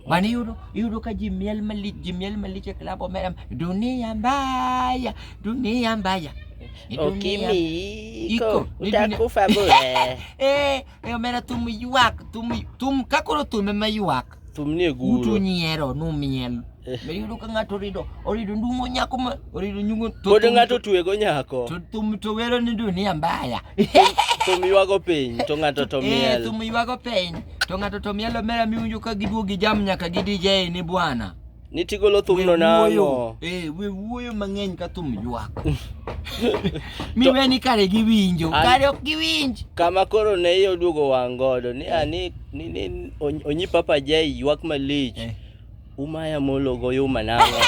Bwana, iyudo iyudo ka ji miel malich, ji miel malich e klab omera, dunia mbaya, dunia mbaya. E dunia- Ukimi Iko, iko ni dunia- utakufa bure. Eh, eh, omera thum ywak, thum thum ka koro thum ema ywak. Thumni e Utu guro. nyiero numiel. Be iyudo ka ng'ato orido, orido ndungo nyako ma orido nyungo to Pod thum- ng'ato tuego nyako. to thum to wero ni dunia mbaya. Thum ywago piny to ng'ato to Eh, miel. thum ywago piny. To ng'ato to mielo mera miwinjo ka giduogo gi jam nyaka gi DJ ni bwana. Ni tigolo thumno nang'o? Eh, we wuoyo mang'eny ka thum ywak. Miwe ni kare giwinjo, kare ok giwinj. Kama koro ne iye oduogo wang' godo ni ani ni ni onyi Papa Jay ywak malich. Eh. Umaya molo go yuma nango.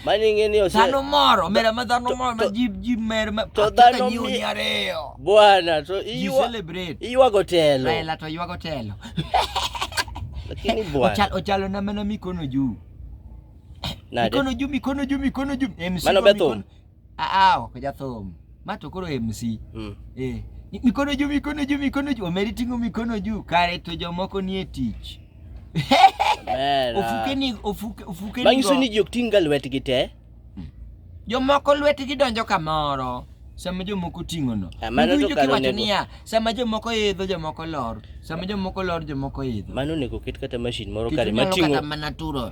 Mani ing'e ni ose... Dhano moro, mera ma dhano moro ma ji ji mer ma to dhano mi ni ariyo. Bwana, to iywa celebrate. Iywa gotelo. Raila to iywa gotelo. Lakini bwana. Ochal ochalo na mana mikono juu. Nade? Mikono juu, mikono juu, mikono juu. Mano bethum. Ah, ok jathum. Ma to koro MC. Mm. Eh. Ni- Mikono juu, mikono juu, mikono juu. Omeri ting'o mikono juu. Kare to jomoko nie tich. Ber, ah. Ofuke ni, ofuke, ofuke ni. Manyiso go- ni ji ok ting'ga lwetgi te. Jomoko lwetgi donjo kamoro. Sama jomoko ting'ono. Ah, mano to Iwinjo kare kiwacho onego- niya, sama jomoko idho, jomoko lor. Sama jomoko lor, jomoko idho. Mano onego oket kata mashin moro Kik kare inyalo mating'o kata mana turo.